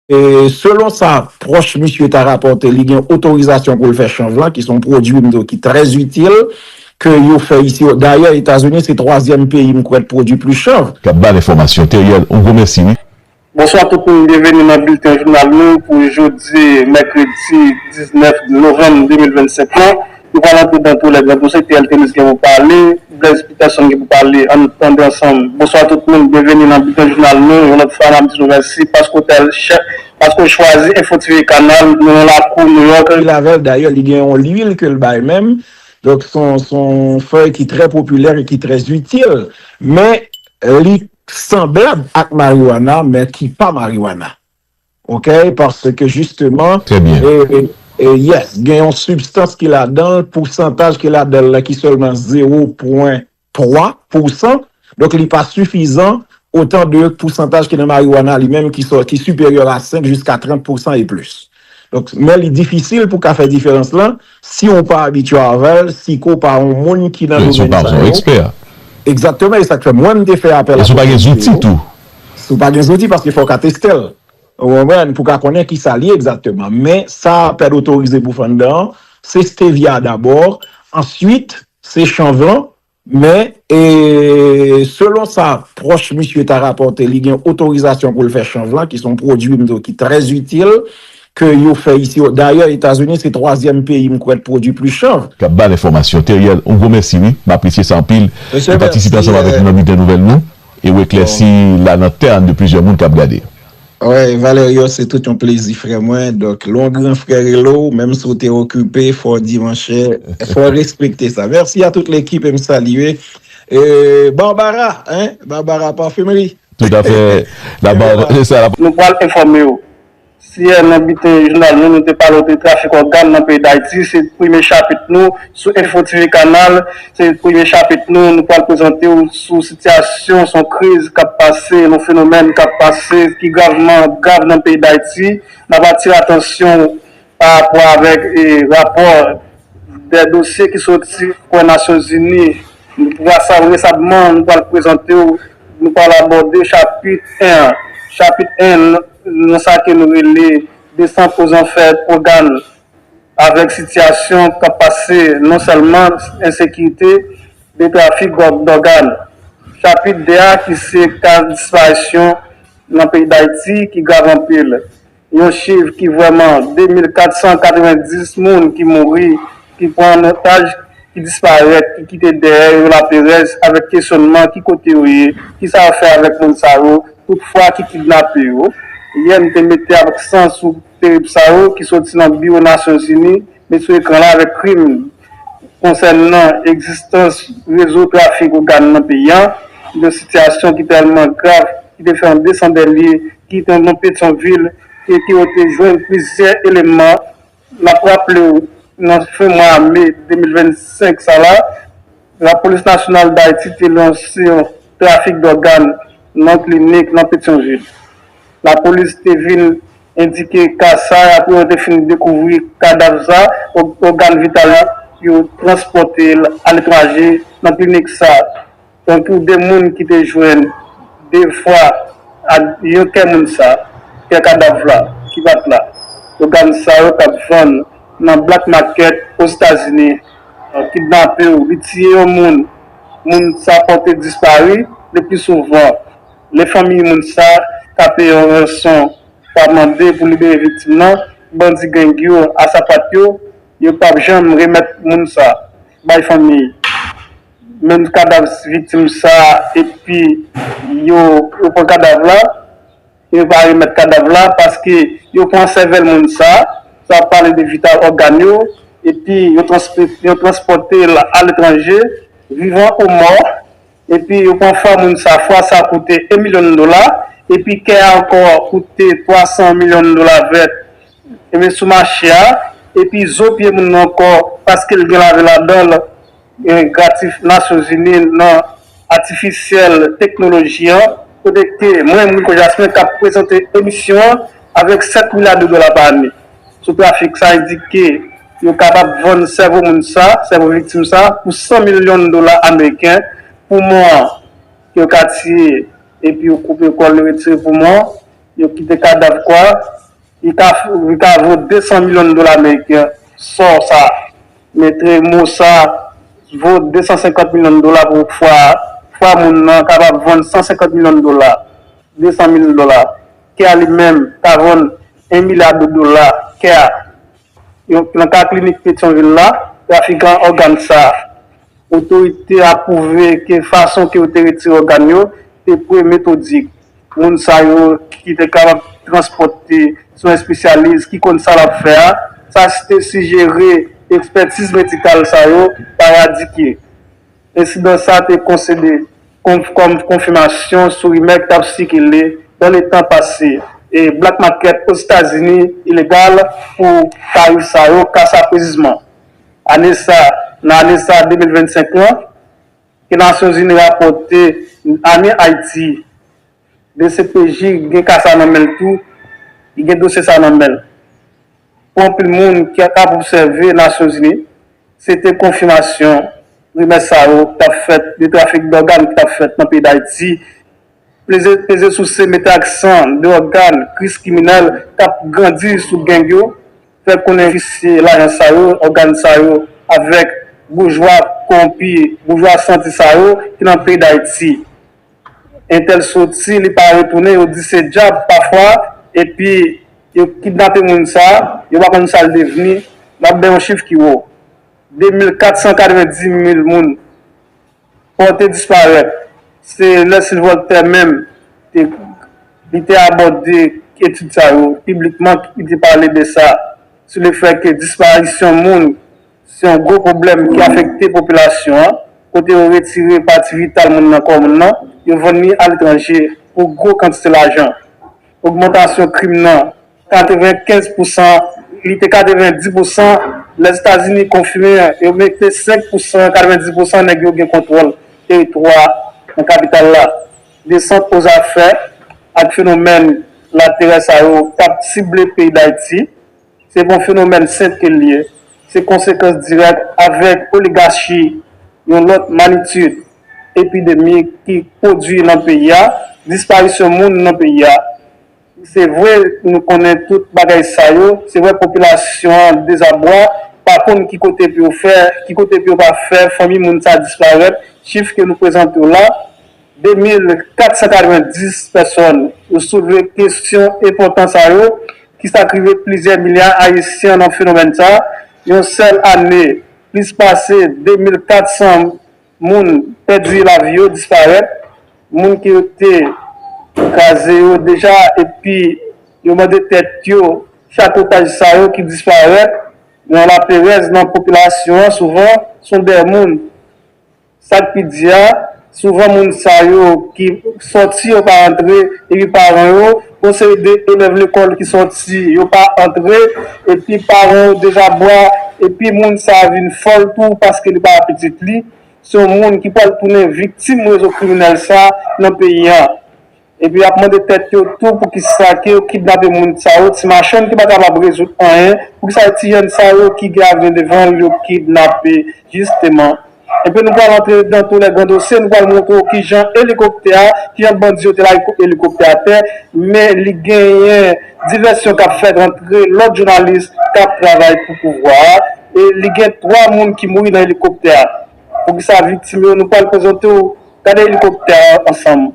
Selon sa pwòch misye ta rapòte, li gen otorizasyon pou l fè chanj lan, ki s on pwodui m di w ki trè itil, ke yo fè isi. Dayè, Etazini se twazyèm peyi m kwè k pwodui plis chanj. K ap ba l enfòmasyon. Theriel, on gwo mèsi wi. Bonswa tout moun byenveni nan bilten jounal nou pou jodi mèkredi 19 novanm 2025 lan. Yo pral antre dan tou lè gran tou se TL Tennis gen pou pale, Blaise Peterson gen pou pale ann tande ansanm. Bonswa tout moun byenveni nan Bilten Jounal nou yon lòt fwa nap di nou mèsi paske w tèl chè paske w chwazi Info TV kanal nou nan lakou New York. Pil avèl dayè li gen yon lwil kel bay menm donk son son fèy ki trè popilè e ki trè zitil men li sanblab ak mariwana men ki pa mariwana. Ok paske jisteman. Trè byen. Yes gen yon sibstans ki ladanl pousantaj ki ladanl la ki sèlman zewo pwen twa pousan donk li pa sifizan otan de pousantaj ki nan mariwana li menm ki siperyè a senk jiska trant pousan e plis donk men li difisil pou ka fè diferans lan Si ou pa abitye avèl, si ke ou pa yon moun ki nan domèn sa yo. Si ou pa yon ekspè. Egzakteman, e sa k fè mwen m te fè apèl a pwofèt Jezi yo. E si ou pa gen zouti tou. Si ou pa gen zouti, paske fò w ka teste l. Ou konprann, pou w ka konnen ki sa li ye egzakteman. Men, sa apèl otorize pou fè anndan an, se stevia dabò, answit, se chanvl, Men, selon sa pwòch misye ta rapòte, li gen otorizasyon pou l fè chanj lan, ki se yon pwodui m di w ki trè itil, ke yo fè isi o. Dayè, Etazini se twazyèm peyi m kwè k pwodui plis chanvr. K ap ba n enfòmasyon. Theriel, yon gwo mèsi wi. M apresye sa anpil. Ou patisipe ansanm avèk nou nan bilten nouvèl nou e ou eklèsi la lantèn de plizyè moun k ap gade. Awèy Valerio se tout yon plezi frè mwen donk lè yon gran frè rele w menm si w te okipe fò w di monchè fò w respekte sa mèsi a tout lekip e m salye Barbara hein Barbara parfumerie Tout a fè la Barbara se sa. Nou pral enfòme w. Siyè nan biten jounal nou nou te pale w de trafik ògàn nan peyi Dayiti se premye chapit nou Sou Info TV Kanal, se premye chapit nou, nou pral prezante w sou sitiyasyon, son kriz k ap pase, yon fenomèn k ap pase ki gravman grav nan peyi Dayiti. N ap atire atansyon w pa rapò avèk rapò de dosye ki soti bò Nasyon Zini. Resabman, nou pral prezante w, nou pral abòde chapit 1 an. Chapit 1 nan sa ke nou rele Desant o zanfè Pwogan Avèk sitiyasyon k ap pase non sèlman ensekirite men trafik dògàn. Chapit 2 a ki se ka disparisyon nan peyi Dayiti ki grav anpil. Yon chif ki vrèman 2.490 moun ki mouri, ki pran an otaj, ki disparèt, ki kite dèyè yo laperèz avèk kesyònman ki kote yo ye, ki sa yo fè avèk moun sa yo, tout fwa ki kidnape yo. Yè m te mete aksan sou Terib sa yo, ki soti nan biwo Nasyonzini, met sou ekran la avèk krim konsènan egzistans rezo trafik ogàn nan peyi a, yon sitiyasyon ki tèlman grav ki te fè yon desandelye ki te nan Petyonvil kote yo te jwenn plizyè eleman. N ap raple w nan fen mwa me 2025 sa la, Lapolis Nasyonal Dayiti te lanse yon trafik dògàn nan klinik nan Petyonvil. Lapolis te vin endike ka sa apre yo te fin dekouvri kadav sa, ògàn vital yo, yo transpòte l aletranje nan klinik sa. Tankou 2 moun ki te jwenn 2 fwa ak yon kè moun sa, kè kadav la ki pa t la. Ògàn sa yo t ap vann nan black market Ozetazini. Kidnape ou li tiye yon moun, moun sa pòte dispari leplisouvan Lè fanmiy moun sa ka peye yon ranson pa mande pou libere viktim nan, bandi gang yo a sapat yo, yo pap janm remèt moun sa bay fanmiy menm kadav viktim sa epi yo pran kadav la e yo pa remèt kadav la paske yo pran sèvèl moun sa, sa ap pale de vital ògàn yo epi yo transpòtel aletranje vivan ou mò. Epi yo pran fwa moun sa, fwa sa koute 1 milyon dola, epi kè a ankò koute 300 milyon dola vèt, ebyen sou mache a, epi zo pye moun nan ankò, paske l gen lavi ladan l, gratif Nasyonzini nan atifisyèl teknoloji an. Kote ke mwen, Rico Jasmin, k ap prezante emisyon an avèk 7 milya de dola pa ane. sou trafik sa endike yo kapab vann sèvo moun sa, sèvo viktim sa, pou 100 milyon dola ameriken, poumon an yo ka tiye epi yo koupe kò l yo retire poumon an, yo kite kadav kò a, li ka li ka vo 200 milyon dola ameriken, sò sa metre mo sa vo 250 milyon dola pou fwa a, fwa moun nan kapab vann 150 milyon dola, 200 mil dola, kè a li menm ka vann 1 milya de dola kè a. Nan ka klinik Petyonvil la, trafikan ògàn sa a, otorite a pwouve ke fason ke yo te retire ògàn yo te pre metodik. Moun sa yo ki te kapab transpòte sou espesyalis ki konn sa l ap fè a, sa te sijere ekspètiz medikal sa yo pa radike. Ensidan sa a te konside kòm konfimasyon sou rimè ki t ap sikile nan le tan pase e Black Market Ozetazini ilegal pou tarif sa yo ka saprezisman. Ane sa, nan ane sa 2025 lan, ke Nasyonzini rapòte ane Ayiti, Dcpj gen ka sa nan men l tou, li gen dosye sa nan men l. Pou anpil moun ki ap obsève Nasyonzini, se te konfimasyon rimè sa yo k t ap fèt de trafik dògàn ki t ap fèt nan peyi Dayiti, peze souse, mete aksan de ògàn kris kriminèl k ap grandi sou geng yo, fè konnen visye lajan sa yo, ògàn sa yo avèk boujwa kowonpi, boujwa santi sa yo ki nan peyi Dayiti. Entèl soti li pa retounen yo di se djab pafwa epi yo kidnape moun sa yo pa konn sal devni map bay yon chif ki wo 2490 mil moun pòte disparèt se lè Sylvoltè menm te li te abòde etid sa yo piblikman ki te pale de sa sou le fè ke disparisyon moun Se yon gwo pwoblèm ki afekte popilasyon an, kote yo retire pati vital moun nan kò moun nan, yo vann li aletranje pou gwo kantite lajan. Ogmantasyon krim nan 95 pousan, li te 90 pousan lè Etazini konfime yo mete 5 pousan, 90 pousan nèg yo gen kontwòl teritwa nan kapital la. Desant ozafè ak fenomèn laterè sa yo pa t sible peyi Dayiti. Se bon fenomèn sente l ye, se konsekans dirèk avèg oligachi yon lòt manitid epidemi ki pwodui nan peyi a, disparisyon moun nan peyi a. Se vre nou konnen tout bagay sa yo, se vre popilasyon an dezabwa, pa konn ki kote pou yo fè, ki kote pou yo pa fè, fanmi moun sa disparèt, chif ke nou prezante w la, 2.490 pèsòn yo soulve kesyon enpòtan sa yo, kisa k rive plizyè milya Ayisyen nan fenomèn sa, yon sèl ane plis pase 2.400 moun pèdi lavi yo, disparèt, moun ke yo te kraze yo deja epi yo mande tèt yo chak otaj sa yo ki disparèt nan laperèz nan popilasyon an souvan son dè moun Sa k pi di a, souvan moun sa yo ki sòti yo pa antre epi paran yo, yon seri de elèv lekòl ki sòti yo pa antre epi paran yo deja bwa epi moun sa vin fòl tou paske li pa wè pitit li se yon moun ki pral tounen viktim rezo kriminèl sa nan peyi an. Epi yap mande tèt yo tou poukisa ke yo kidnape moun sa yo, ti machann ki pa kapab rezoud anyen, poukisa se ti jèn sa yo ki gen avni devan yo kidnape jisteman. Epi nou pral antre nan tou lè gran dosye, nou pral montre w kijan elikoptè a, kijan bandi yo te lage kout elikoptè atè, men li genyen divèsyon kap fèt antre lòt jounalis kap travay pou pouvwa a, e li gen 3 moun ki mouri nan elikoptè a. Poukisa viktim yo, nou pral prezante w, gade elikoptè a ansanm.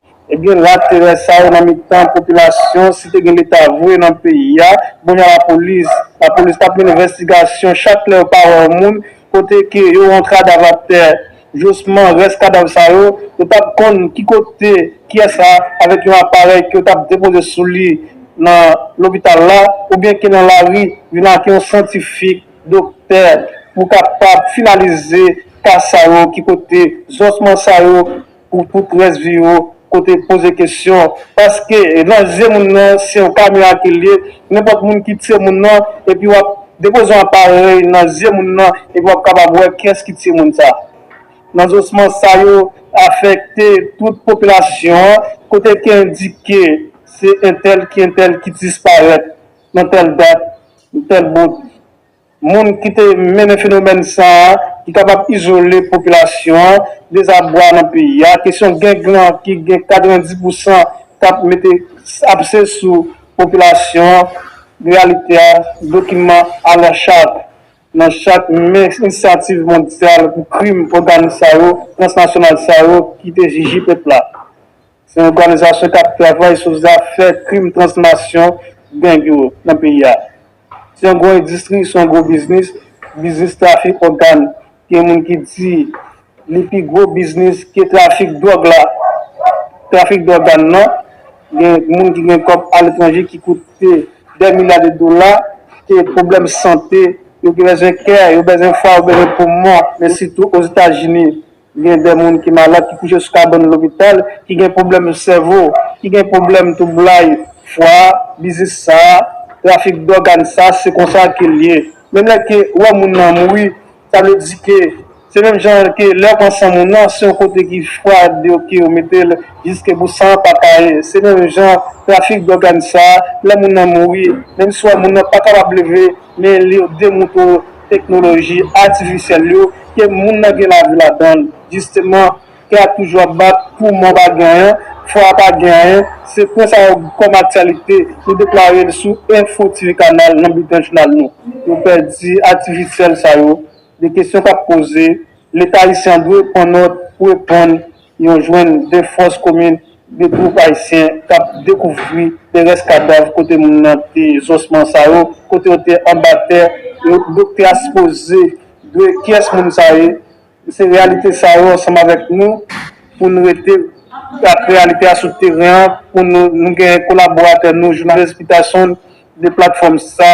Ebyen la terè sa yo nan mitan popilasyon si te gen leta vre nan peyi a bon jan la polis la polis tap mennen vèstigasyon chak lè yo pa wè yon moun kote ke yo wè yon kadav ap tè josman rès kadav sa yo yo tap konn ki kote kiyès la avèk yon aparèy ke yo tap depoze sou li nan lopital la oubyen ke nan lari vin ak yon syantifik doktè pou kapab finalize ka sa yo ki kote zosman sa yo. Pou tout rès viwo kote poze kesyon paske nan zye moun nan se yon kamyon ake liye nenpòt moun ki tiye moun nan epi wap depoze yon aparèy nan zye moun nan epi wap kapab wè kiyès ki tiye moun sa nan zosman sa yo afèkte tout popilasyon an kote ki endike se entèl ki entèl ki disparèt nan tèl dat tèl bout. Moun ki te mennen fenomèn sa a ki kapab izole popilasyon an, dezabwa nan peyi a, kesyon geng lan ki gen 90 pousan k ap mete apse sou popilasyon an, reyalite a dokiman a la chat nan chak men inisyativ mondyal pou krim òganis sa yo, transnasyonal sa yo ki te jiji pèp la. Se yon òganizasyon kap travay sou zafè krim transnasyon gang yo nan peyi a. Se yon gwo endistri, se yon gwo biznis, biznis trafik ògan, gen moun ki di li pi gwo biznis ke trafik dwòg la, trafik dògan nan, gen moun ki gen kòb aletranje ki koute dè milya de dola, ke pwoblèm sante, yo gen bezwen kè, yo bezwen fwa, yo bezwen poumon, men sitou Ozetazini. Gen de moun ki malad, ki kouche sou kabann lopital, ki gen pwoblèm sèvo, ki gen pwoblèm twoublay fwa, biznis sa, trafik dògàn sa, se konsa ke l ye. Menm lè ke ou wè moun nan mouri, sa vle di ke se menm jan ke lè ou pran san moun nan, se yon kote ki fwa deyo ke ou mete l jiske pou san an pa kaye. Se menm jan trafik dògàn sa, lè moun nan mouri, menm si ou wè moun nan pa kapab leve, men li yo demoute ou, teknoloji atifisyèl yo ke moun nan gen lavi ladan l. Jisteman, tè a toujou ap bat pou mò pa gen anyen, fwa a pa gen anyen. Se pwen sa yo kòm aktyalite nou deklare l sou Enfo TV Kanal nan Bilten Jounal nou. Yo pèdi atifisyèl sa yo. De kesyon k ap poze, Leta ayisyen an dwe pran nòt pou reponn Yon jwenn 2 fòs komin, 2 twoup ayisyen k ap dekouvri de rès kadav kote moun nan te zosman sa yo kote yo te anba tè yo douk te a sipoze dwe kiyès moun sa ye se reyalite sa yo ansanm avèk nou pou n rete ak reyalite a sou teren an pou nou nou gen kolaboratè nou jounalis Peterson de platfòm sa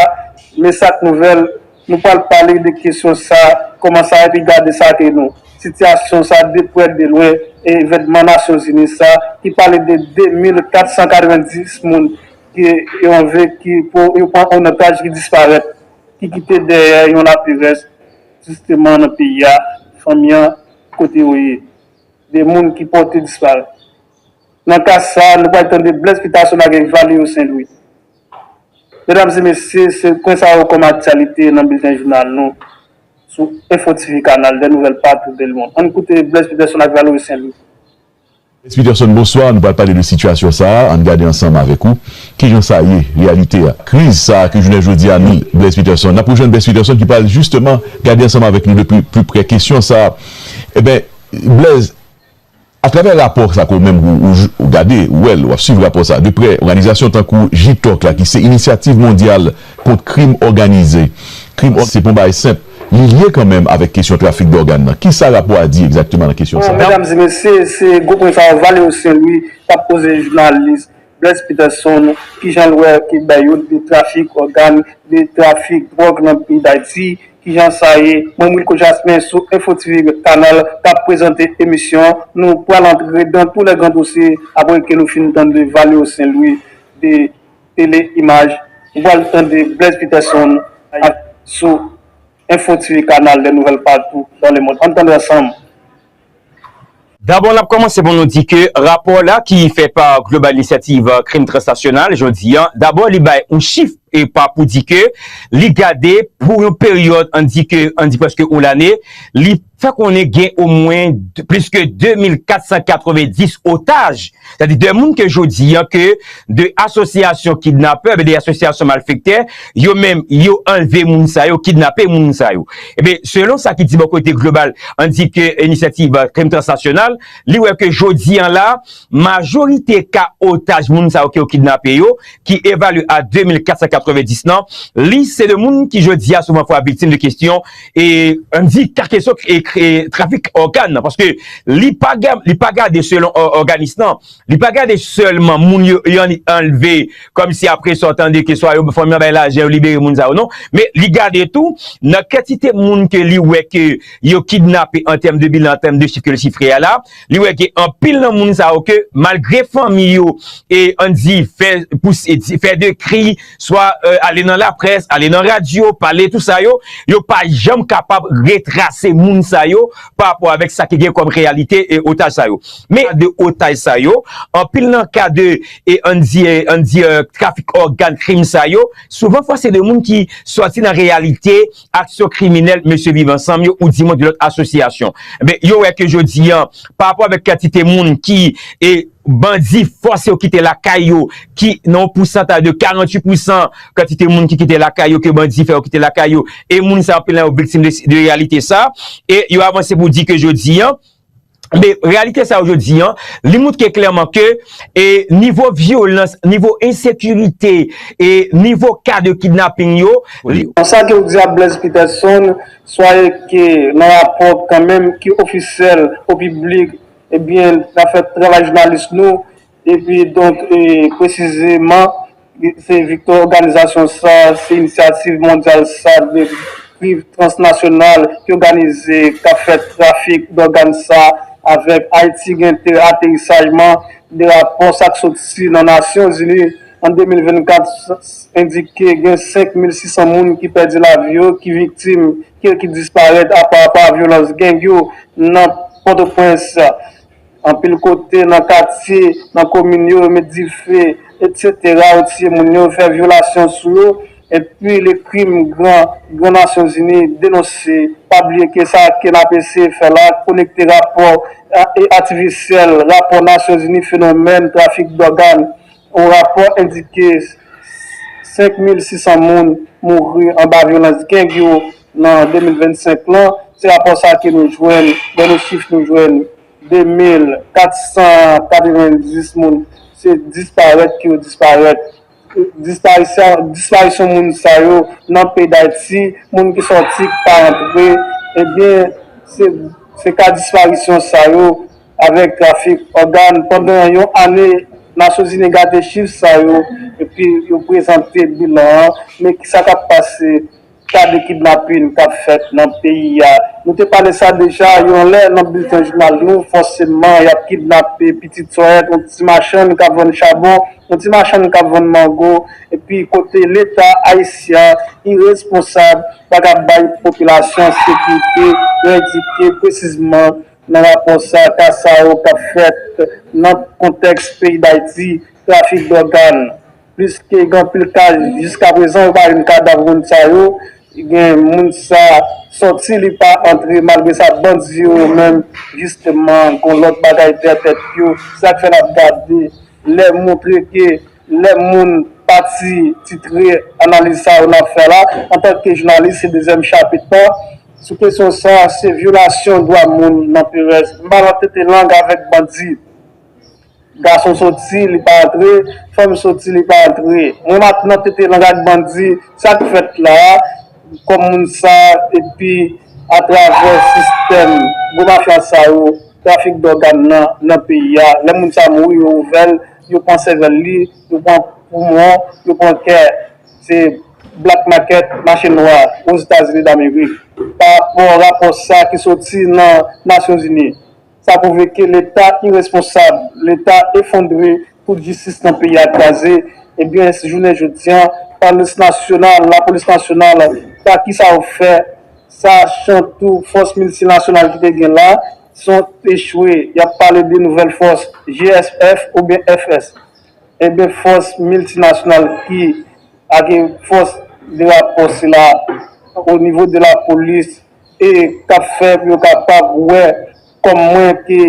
Messac Nouvelles. Nou pral pale de kesyon sa, kòman sa epi gade sa ke nou. Sitiyasyon sa de prè de lwen e evènman Nasyon Zini sa ki pale de 2,490 moun ke yo anve ki pou yo pran an otaj ki disparèt, ki kite dèyè yon lapli rès jisteman nan peyi a, fanmi an kote yo ye. De moun ki pòte disparèt. Nan ka sa, nou pral tande Blaise Peterson avèk Valerio Saint-Louis. Medam e mesye, se pwen sa yo kòm aktyalite nan bilten jounal nou sou Info TV Kanal dè nouvèl patou de lmond. Ann koute Blaise Peterson ak Valery Saint Louis. Blaise Peterson, bonswa. Nou pral pale de sitiyasyon sa a. Ann gade ansanm avèk ou ki jan sa ye, reyalite a. Kriz sa a ke jounen jodi a nou, Blaise Peterson. N ap rejwenn Blaise Peterson ki pral jisteman gade ansanm avèk nou de pli, pli prè kesyon sa a. Enben, Blaise. A travè rapò sa ke ou menm ou gade, ou wè l, ou ap swiv rapò sa de prè, òganizasyon tankou Jitòk la ki se Inisyativ Mondyal Kont Krim Òganize, krim òganize se pa yon bagay senp, li lye kanmenm avèk kesyon trafik dògàn nan. Kisa rapò a di egzakteman nan kesyon sa a? Bon, medam e mesye, se gwo pwen sa yo Valéo Saint-Louis t ap poze jounalis. Bless Peterson, kijan l wè ke bay yon de trafik ògàn, de trafik dwòg nan peyi Dayiti, kijan sa ye? Mwen Wilko Jasmin sou Info TV Red Canal kap prezante emisyon nou pral antre dans tous les grands dossiers apre ke nou fin tande Valeo Saint Louis de Tele Image nou pral tande Bless Peterson ak sou Info TV Canal les nouvelles partout dans le monde ann tande ansanm. Dabò n ap kòmanse pou nou di ke rapò la ki fè pa Global Inisyativ Krim Transnasyonal jodi an, dabò li bay yon chif e pa pou di ke li gade pou yon peryòd an di ke an di prèske yon lane, li fè konnen gen omwen plis ke 2.490 otaj Sa di 2 moun ke jodi an ke 2 asosyasyon kidnapè, oubyen 2 asosyasyon malfektè, yo menm yo anlve moun sa yo, kidnape moun sa yo. Ebyen, selon sa ki di bò kote Global Anti ke Inisyativ Krim Transnasyonal, li wè ke jodi an la, majorite ka otaj moun sa yo ke yo kidnape yo, ki evalye a 2490 nan, li se de moun ki jodi a souvan fwa viktim de kestyon, e an di ka kesyon trafik ògan nan paske li pa li pa gade selon òganis nan li pa gade sèlman moun yo yo anlve kòm si apre sa w tande ke swa yo fanmi an bay lajan yo libere moun sa yo non men li gade tou nan kantite moun ke li wè ke yo kidnape an tèm de bilan an tèm de chif ke l chifre a la. Li wè ke anpil nan moun sa yo ke malgre fanmi yo e an di fè pouse di fè de kri swa ale nan laprès, ale nan radyo, pale tou sa yo, yo pa janm kapab retrase moun sa yo pa rapò avèk sa ki gen kòm reyalite e otaj sa yo. Men ka de otaj sa yo, anpil nan ka de e an di e an di trafik ògàn krim sa yo, souvan fwa se de moun ki sòti nan reyalite aksyon kriminèl mesye Viv Ansanm yo ou di mwen gen lòt asosyasyon. Enben, yo wè ke jodi an, pa rapò avèk kantite moun ki e bandi fòse yo kite lakay yo, ki nan yon pousantaj de 48 pousan kantite moun ki kite lakay yo ke bandi fè yo kite lakay yo, e moun sa yo anpil nan yo viktim de reyalite sa. E yo avanse pou di ke jodi an, Men, reyalite sa yo jodi an, li moutre klèman ke e nivo vyolans, nivo ensekirite, e nivo ka de kidnaping yo, li. Konsa ke ou di a Blaise Peterson, swaye ke nan rapò kanmenm ki ofisyèl o piblik, ebyen, n ap fè travay jounalis nou, Epi donk presizeman se viktwa òganizasyon sa, se inisyativ mondyal sa, de priv transnasyonal ki òganize k ap fè trafik dògàn sa avèk Ayiti gen tè aterisajman de rapò sa k soti nan Nasyonzini an 2024 endike gen 5600 moun ki pèdi lavi yo, ki viktim, ki disparèt apa pa vyolans geng yo nan Pòtoprens. Anpil kote nan katye, nan komin yo, yo met dife, etc. Yo tiye moun yo, fè vyolasyon sou yo, epi le krim gran, gran Nasyon Zini denonse. Pa bliye ke sa ke n ap eseye fè la, konekte rapò atifisyèl, rapò Nasyon Zini fenomèn trafik dògàn, Yon rapò endike 5600 moun mouri anba vyolans gang yo nan 2025 lan, se rapò sa ke nou jwenn, dènye chif nou jwenn 2490 moun se disparèt ke yo disparèt. Disparisyon moun sa yo nan peyi Dayiti, moun ki sòti, ki pa rantre, ebyen se ka disparisyon sa yo. avèk trafik ògàn pandan yon ane, Nasyonzini gade chif sa yo epi yo prezante bilan an, men ki sa k ap pase ka de kidnapin k ap fèt nan peyi a. Nou te pale sa deja yon lè nan bilten jounal nou, fòseman y ap kidnape pitit sòyèt, yon ti machann k ap vann chabon, yon ti machann k ap vann mango epi kote leta ayisyen iresponsab pa ka bay popilasyon sekirite, yo endike presizman Nan rapò sa, ka sa yo k ap fèt nan kontèks peyi Dayiti, trafik dògàn, plis ke gen anpil ka jiska prezan yo pa jwenn kadav moun sa yo, gen moun sa sòti li pa antre malgre sa bandi yo yo menm jisteman gon lòt bagay dèyè tèt yo, se sak fè n ap gade lè montre ke Lè moun pa ti titre analiz sa yo nap fè la, antanke jounalis se dezyèm chapit lan, sou kesyon sa se vyolasyon dwa moun nan Perèz. M pa nan tete lang avèk bandi. Gason soti li pa antre, fanm soti li pa antre. Mwen map nan tete lang ak bandi sak fèt la a kòm moun sa epi atravè sistèm gwo mafya sa yo trafik dògàn nan nan peyi a lè moun sa mouri yo ouvè l. Yo pran sèvèl li, yo pran poumon, yo pran kè. Se black market, mache nwa, Ozetazini Damerik. Pa rapò rapò sa ki soti nan Nasyonzini, sa pwouve ke Leta iresponsab, Leta efondre, tout jistis nan peyi a kraze. Ebyen, jounen jodi an, Polis Nasyonal, Lapolis Nasyonal, sa ki sa yo fè Sa son tou fòs miltinasyonal ki te gen la, son echwe, yap pale de nouvèl fòs GSF oubyen FS. Enben fòs miltinasyonal ki ak fòs de rapò sila o nivo de la polis e kap fè pou yo kapab wè kòm mwen ke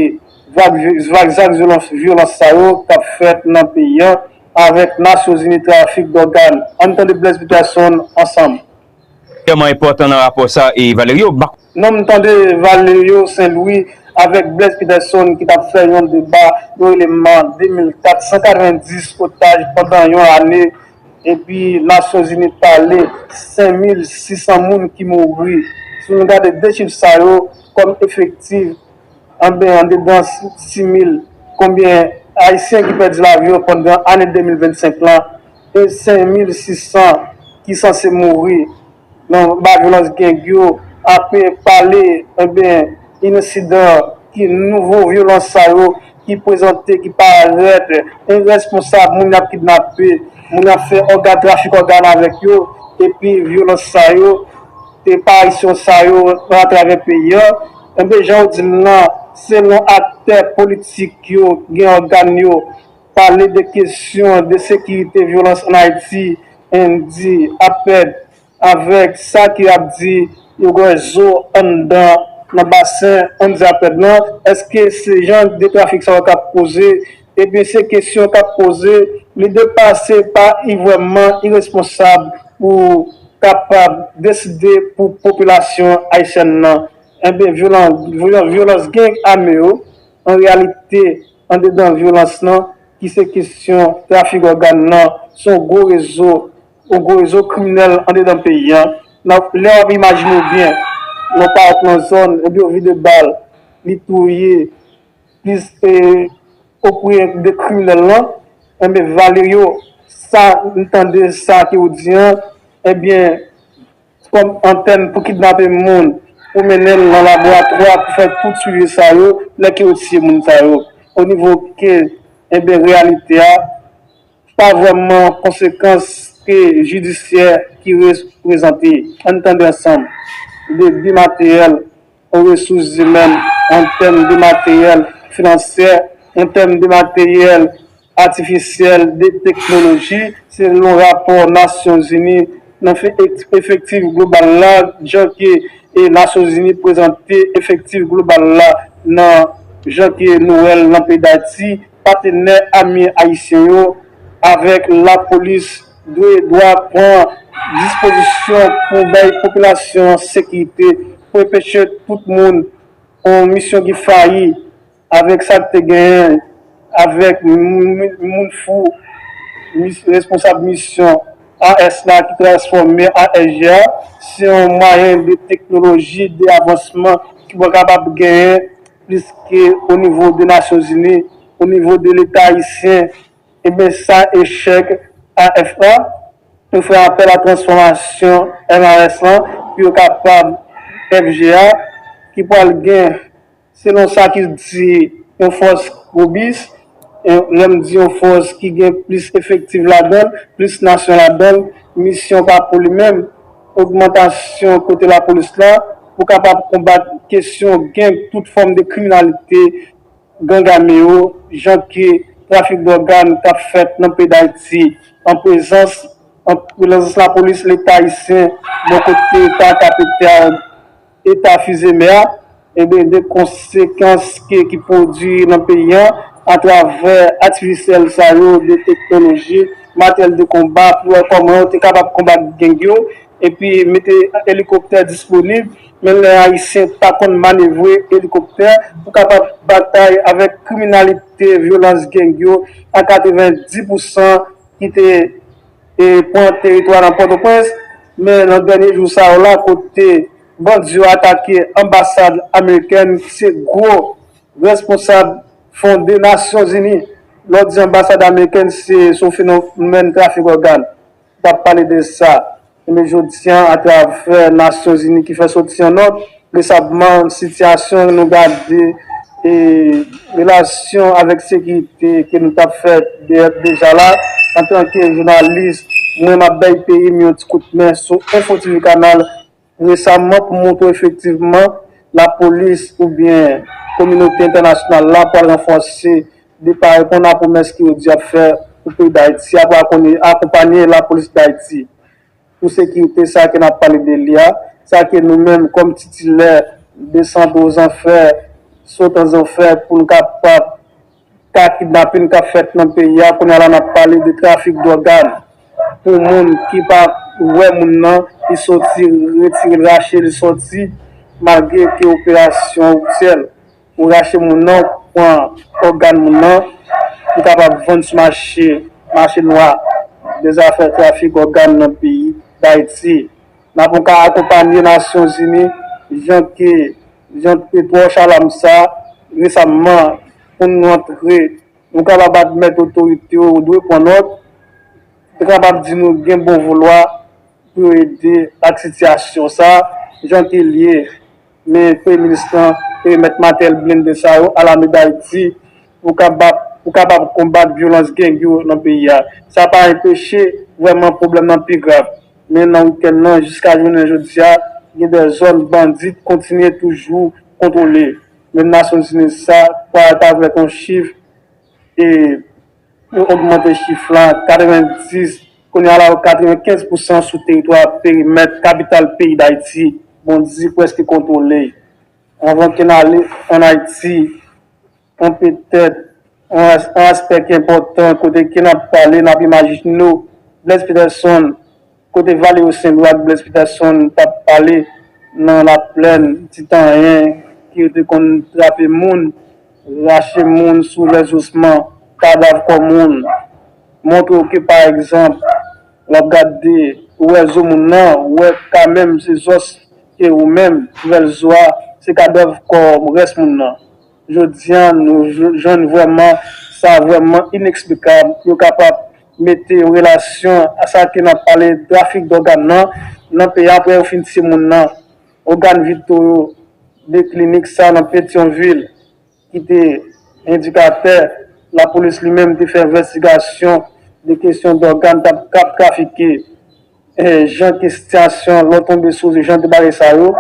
vag zak vyolans sa yo kap fèt nan peyi an avèk nasyonzini trafik dògàn. Ann tande Blaise Peterson ansanm. tèlman enpòtan nan rapò sa e Valerio bak. Non m tande Valerio Saint Louis avèk Blaise Peterson ki t ap fè yon deba yo rele m an 2004, 190 otaj pandan yon ane epi Nasyonzini pale 5600 moun ki mouri. Si nou gade 2 chif sa yo kòm efektif Anben andedan simil konbyen ayisyen ki pèdi lavi yo pandan ane 2025 lan e 5600 ki sanse mouri nan ba vyolans geng yo ape pale anben insidan ki nouvo vyolans sa yo ki prezante ki parèt irèsponsab moun yap kidnape moun yap fè òga trafik ògan avèk yo epi vyolans sa yo Eparisyon sa yo nan atravè peyi an, enben jan ou di l lan, selon aktè politik yo k gen ògàn yo, pale de kesyon de sekirite vyolans ann Ayiti, endi, apèd, avèk sa ke y ap di yo gen zo anndan nan basen, ann di apèd lan, èske se jan de trafik sa yo k ap koze Ebyen se kesyon kap poze li depa se pa i vrèman iresponsab pou kapab deside pou popilasyon ayisyèn nan enben vyolan vyolans gang ame yo an reyalite andedan vyolans nan ki se kesyon trafik ògan nan son gwo rezo yon gwo rezo kriminèl andedan peyi an nan lè wap imajine byen nan pa ap nan zòn ebyen yo vide bal li touye Plis e opre de kriminel lan enben valerio sa m tande sa ke ou di an enben kom antèn pou kidnape moun pou mennenl nan laboratwa pou fè tout swivi sa yo lè ke ou tiye moun sa yo o nivo ke enben reyalite a pa vreman konsekans ke jidisyè ki reprezante an tande ansanm de bimateyèl An resous zimèn, an tèm de materyèl finansyè, an tèm de materyèl atifisyèl, de teknoloji, selon rapò Nasyonzini nan fè efektif global la, jan ke Nasyonzini prezante efektif global la nan jan ke nou wè l nan peyi Dayiti. Patenè ame ayisyen yo avèk lapolis dwe dwa pran dispozisyon pou bay popilasyon an sekirite pou enpeche tout moun on misyon ki fayi avèk sa k te genyen avèk moun fou responsab misyon AS la ki transfòme ASG a se on mwayen de teknoloji de avansman ki pwakabab genyen pliske o nivo de Nasyon Zini, o nivo de Leta Ayisyen, eben sa echèk AFA, nou fè apèl a transfòmasyon NRS lan pou yo kapab FGA ki pwal gen, selon sa ki di, yon fòs robis. Lè m di yon fòs ki gen plis efektiv ladan l, plis nasyon ladan l, misyon pa pou li menm, ogmantasyon kote lapolis la pou kapab konbat kesyon geng, tout fòm de kriminalite, gang ame yo, jan ke trafik dògàn k ap fèt nan peyi Dayiti an prezans lapolis, Leta ayisyen bò kote pa kapitèl Eta Fils-Aimé a, enben de konsekans ke ki pwodwi nan peyi an atravè atifisyèl sa yo de teknoloji, materyèl de konba pou wè kòman yo te kapab konbat gang yo epi mete elikoptè disponib men lè Ayisyen pa konn manevre elikoptè pou kapab batay avèk kriminalite vyolans gang yo a 90 pousan ki te e pran teritwa nan Pòtoprens, men nan dènye jou sa yo la kote bandi yo atake anbasad amerikèn ki se gwo responsab fonde Nasyonzini, lè w di anbasad amerikèn se sou fenomèn trafik ògàn w ap pale de sa, enben jodi an atravè Nasyonzini ki fè soti yon nòt. Resabman, sitiyasyon nou gade e relasyon avèk sekirite ke nou tap fè deja la, antanke jounalis, mwen map bay peyi m yon ti kout men sou Enfo TV Kanal resaman pou montre w efektivman lapolis oubyen kominote entènasyonal la pwal ranfòse li pa reponn a pwomès ke yo di yap fè pou peyi Dayiti a pou akonpanye lapolis Dayiti. pou sekirite sa ke nap pale de li a, sa ke nou menm kòm titilè desantre ozanfè, sot anzanfè pou n kapab ka kidnapin kap fèt nan peyi a, kounya la nap pale de trafik dògàn pou moun ki pa wè moun nan, li soti retire l rache l soti malgre ke operasyon ofisyèl. Ou rache moun nan, ou pran ògàn moun nan pou kapab vann sou mache mache nwa de zafè trafik ògàn nan peyi Dayiti. N ap anka akonpanye Nasyon Zini jan ke jan k te twò chalam sa resamman pou n rantre nou kapab admèt otorite yo dwe pran nòt pou te kapab di nou gen bon volwa pou yo ede ak sitiyasyon sa jan ke l ye. Men premye minis lan te met matèl blende sa yo alamè Dayiti pou kapab konbat vyolans geng yo nan peyi a. Sa pa enpeche vrèman pwoblèm lan pi grav. Men nan wikenn lan jiska jounen jodi a, gen de zòn bandi kontinye toujou kontwole. Menm Nasyonzini sa kwa ta vle ton chif e. Yo ogmante chif la 90, kounye a la yo 95 pousan sou teritwa perimèt kapital peyi Dayiti, Bondy prèske kontwole. Anvan ke n ale ann Ayiti, an petèt, an aspè ki enpòtan kote ke n ap pale, n ap imajine nou, Blaise Peterson, Kote Valeo Senlou ak Blaise Peterson t ap pale nan laplèn ti tan anyen ke yo te konn trape moun, rache moun sou lès osman, kadav kò moun, montre w ke pa egzanp w ap gade ou wè zo moun nan, ou wè ka menm se zòs ke ou menm, twèl zo a se kadav kò rès moun nan. Jodi a nou jwenn vrèman sa vrèman ineksplikab, yo kapab mete yon relasyon a sa ke nap pale trafik dògàn nan, nan peyi aprè yo fin tiye moun nan, ògàn vitò yo, de klinik sa nan Petyonvil ki te endikatè lapolis li menm te fè envèstigasyon de kesyon dògàn kap trafike jan ke sitiyasyon lò tonbe sou jan de bagay sa yo.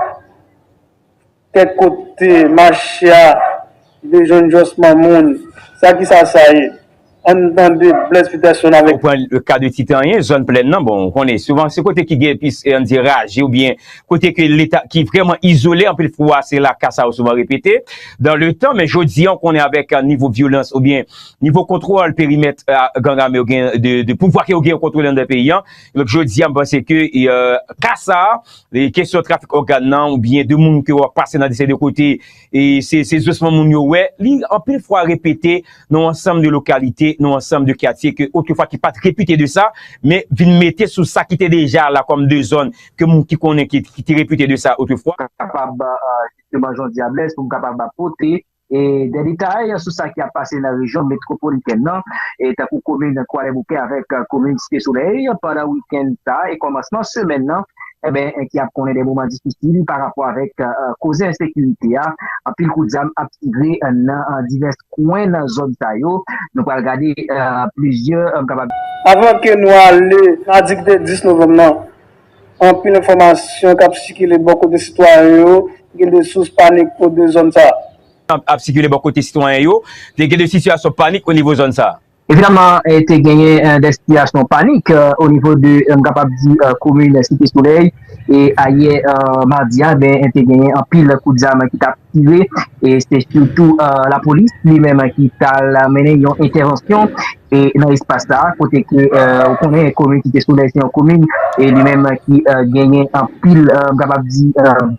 Kèk kote machia vle jwenn josman moun sa kisa sa ye ann tande Blaise Peterson avèk. Ou pran le cas de Titan an, zòn plèn nan bon ou konnen souvan se kote ki gen plis ann di raje oubyen kote ke leta ki vrèman izole anpil fwa se la ka sa yo souvan repete dan le tan men jodi an ou konnen avèk nivo vyolans oubyen nivo kontwòl perimèt gang ame yo gen de pouvwa ke yo gen yo kontwole anndan peyi an Donk jodi a m panse ke ka sa, kesyon trafik ògàn nan ou byen de moun ke wap pase nan dese de kote e se zosman moun yo wè, li anpil fwa repete nan yon ansanm de lokalite, nan yon ansanm de katye ke otre fwa ki pat repite de sa, men vin mete sou sa ki te deja la kòm de zòn ke moun ki konnen ki te repite de sa otre fwa. Kapab jisteman jodi a blèz pou m kapab pote Dè detay sou sa ki ap pase nan rejyon metwopolitèn nan, tankou komin Kwadèboukè avèk komin Site Solèy pandan wikenn sa e kòmansman semèn nan, ki ap konnen dè moman difisil pa rapò avèk koze ensekirite a. Anpil kout zam ap tire nan divès kwen nan zòn sa yo. Nou pral gade plizyè. Avan ke nou ale nan aktivite 10 novanm nan, Anpil enfòmasyon k ap sikile bò kote sitwayen yo gen de sous panik o de zòn sa a. Ap sikile bò kote sitwayen yo te gen de sitiyasyon panik o nivo zòn sa a. Evidaman te genyen de sitiyasyon panik o nivo de m kapab di komin Site Solèy e ayè madi a ben te genyen anpil kout zam ki t ap tire e se sitou lapolis li menm ki t al mennen yon entèvansyon e nan espas sa a kote ke ou konnen komin Site Solèy se yon komin e li menm ki genyen anpil m kapab di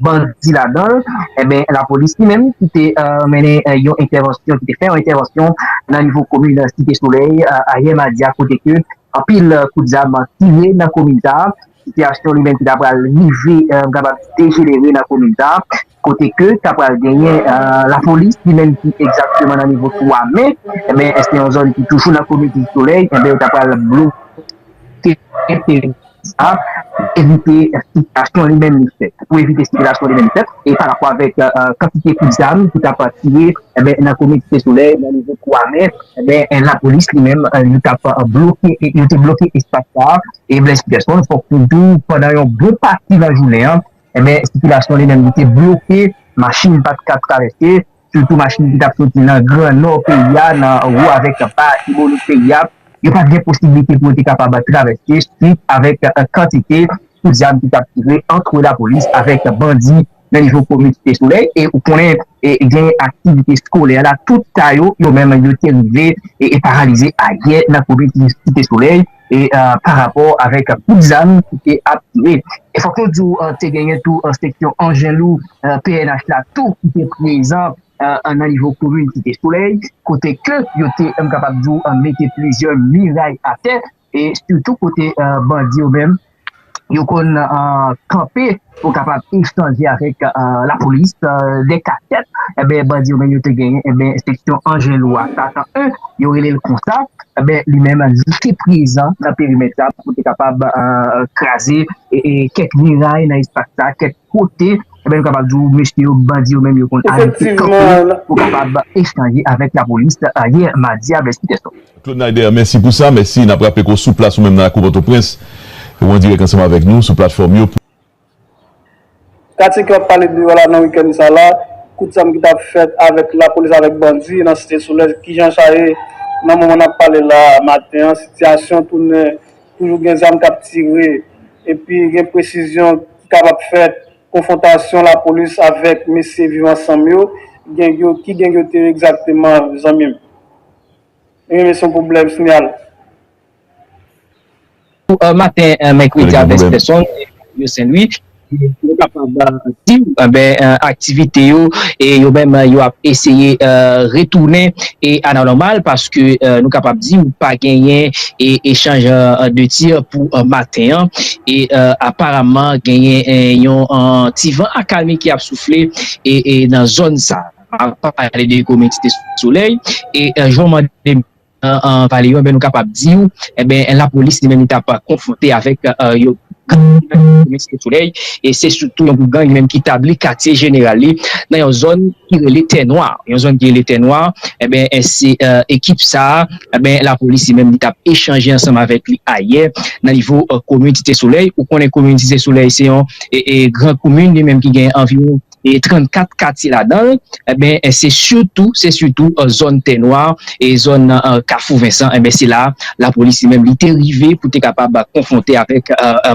bandi ladan l enben lapolis li menm ki te mennen yon entèvansyon ki te fè yon entèvansyon nan nivo komin Site Solèy ayè madi a kote ke anpil kout zam tire nan komin sa a sitiyasyon li menm ki ta pral rive m kapab di dejenere nan komin sa a kote ke ta pral genyen lapolis ki menm ki egzakteman nan nivo 3 me, enben se yon zòn ki toujou nan komin Ti Solèy, enben yo ta pral bloke teren sa a pou evite sikilasyon li menm li fèt, pou evite sikilasyon li menm li fèt, e pa rapò avèk kantite kout zam ki ta pral tire enben nan komin Site Solèy nan nivo 3 me, enben lapolis li menm li ta pral bloke, yo te bloke espas sa a, e Blaise Peterson fòk nou di w pandan yon bon pati nan jounen an Enben, sikilasyon li menm li te bloke, machin pa t ka travèse, sitou machin ki t ap soti nan gran nò peyi a, nan wo avèk ba Latibonit peyi a, yo pa t gen posiblite pou yo te kapab travèse suit avèk kantite koudjam ki t ap tire antre lapolis avèk bandi nan nivo komin Site Solèy. E ou konnen gen aktivite skolè la, tout ka yo, yo menm yo te rive paralize ayè nan komin Site Solèy. e pa rapò avèk kout zam ki te ap tire. E fòk nou di w te genyen tou seksyon anjen lou pnh la tou ki te prezan nan nivo komin Site Solèy kote ke yo te m kapab di w mete plizyè miray atè e sitou kote bandi yo menm yo konn kanpe pou kapab echanje avèk lapolis de kasèt enben bandi yo menm yo te genyen enben seksyon Angelou a satan 1 yo rele l konsa enben li menm li te prezan nan perimèt sa pou te kapab kraze kèk miray nan espas sa kèk kote enben nou kapab di w mesye yo bandi yo menm yo konn abite kanpe pou kapab echanje avèk lapolis yè madi a vè 6 è swa. Claude Naider, mèsi pou sa. Mèsi. N ap raple ke w sou plas ou menm nan lakou Pòtoprens e w an dirèk ansanm avèk nou sou platfòm yo. Katye ke w ap pale de yo la nan wikenn sa la, kout zam ki t ap fèt avèk lapolis avèk bandi nan Site Solèy, kijan sa ye nan moman n ap pale la a maten an? Sitiyasyon tounen toujou gen zam k ap tire epi gen presizyon ki kapab fèt, konfwontasyon lapolis avèk mesye Viv Ansanm yo, geng yo, ki geng yo te ye egzakteman zanmi m? Rele son pwoblèm sinyal. Pou maten mèkredi a Vèst Pèson, Mario Sen Lwi, nou kapab di w aktivite yo yo menm yo ap eseye retounen a la nòmal paske nou kapab di w pa genyen echanj de tir pou maten an e aparamman genyen yon ti van akalmi ki ap soufle nan zòn sa a. ap pale de ekonomi site solèy e jan w mande m pale yo nou kapab di w lapolis li menm li t ap konfwonte avèk yon gang ki nan ekonomi site solèy e se sitou yon gwoup gang li menm ki tabli katye jeneral li nan yon zòn ki rele tè nwa yon zòn ki rele tè nwa se ekip sa lapolis li menm li t ap echanje ansanm avèk li ayè nan nivo komin site solèy ou konnen komin site solèy se yon gran komin li menm ki gen anviwon 34 katye ladan l, enben se sitou, se sitou zòn Tè Nwa e zòn Kafou Vensan, enben se la lapolis li menm li te rive pou te kapab konfwonte avèk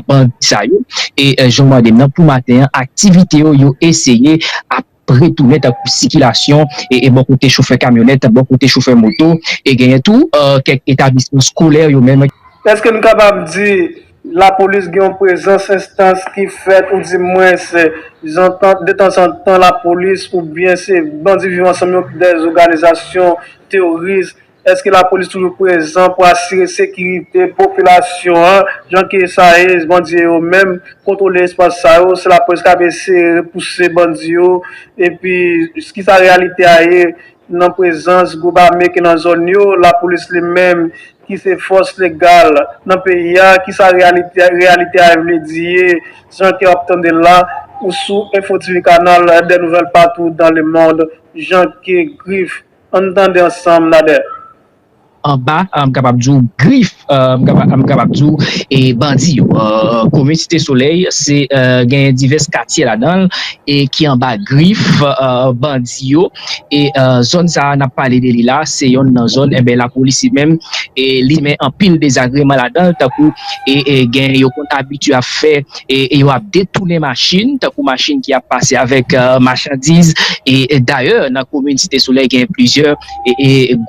bandi sa yo e jan w mande m nan pou maten an aktivite yo, yo eseye ap retounen tankou sikilasyon e bò kote chofè kamyonèt, bò kote chofè moto e genyen tou kèk etablisman skolè yo menm. Èske n kapab di Lapolis gen yon prezans enstans ki fèt ou di mwen se zantan detanzantan lapolis oubyen se bandi viv ansanm yo ki dèyè zoganizasyon teworis èske lapolis toujou prezan pou asire sekirite popilasyon an jan ke sa ye bandi yo yo menm kontwole espas sa yo se lapolis kap eseye repouse bandi yo epi kisa reyalite a ye Nan prezans gwoup ame ki nan zòn yo, lapolis li menm ki se fòs legal nan peyi a, ki sa reyalite a vle di ye, jan ke w ap tande l la, ou sou Info TV Canal des nouvelles partout dans le monde, jan ke grif, ann tande ansanm, Nader. Anba, m kapab di w grif, m kapab di w e bandi yo. Komin Site Solèy se genyen divès katye ladan l e ki anba grif bandi yo e zòn sa a n ap pale de li la a se yonn nan zòn enben lapolis li menm li simen anpil dezagreman ladan l tankou gen yo konn abitye ap fè e yo ap detounen machin tankou machin ki ap pase avèk machandiz e dayè nan komin Site Solèy genyen plizyè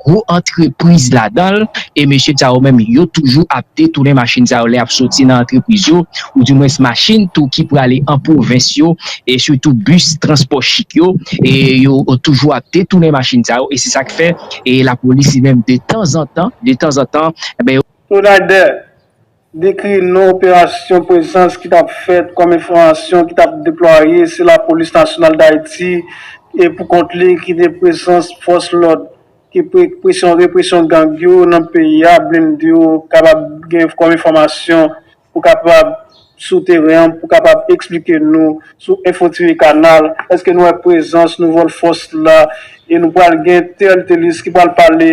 gwo antrepriz ladan l e mesye sa yo menm yo toujou ap detounen machin sa yo lè y ap soti nan antrepriz yo ou di mwens machin tou ki prale an pwovens yo e sitou bis transpò chik yo e yo toujou ap detounen machin sa yo e se sa k fè e lapolis li menm de tanzantan de tanzantan. Souley 2. Dekri non operasyon prezans ki t ap fèt kòm enfòmasyon ki t ap deplwaye se Lapolis Nasyonal Dayiti e pou kont li ki te prezans fòs lòd ki pou ekpresyon represyon gang yo nan peyi a blende yo kapab gen kòm enfòmasyon pou kapab sou teren an pou kapab eksplike nou sou enfo tire kanal èske nou wè prezans nouvòl fòs la e nou pral gen tèl telis ki pral pale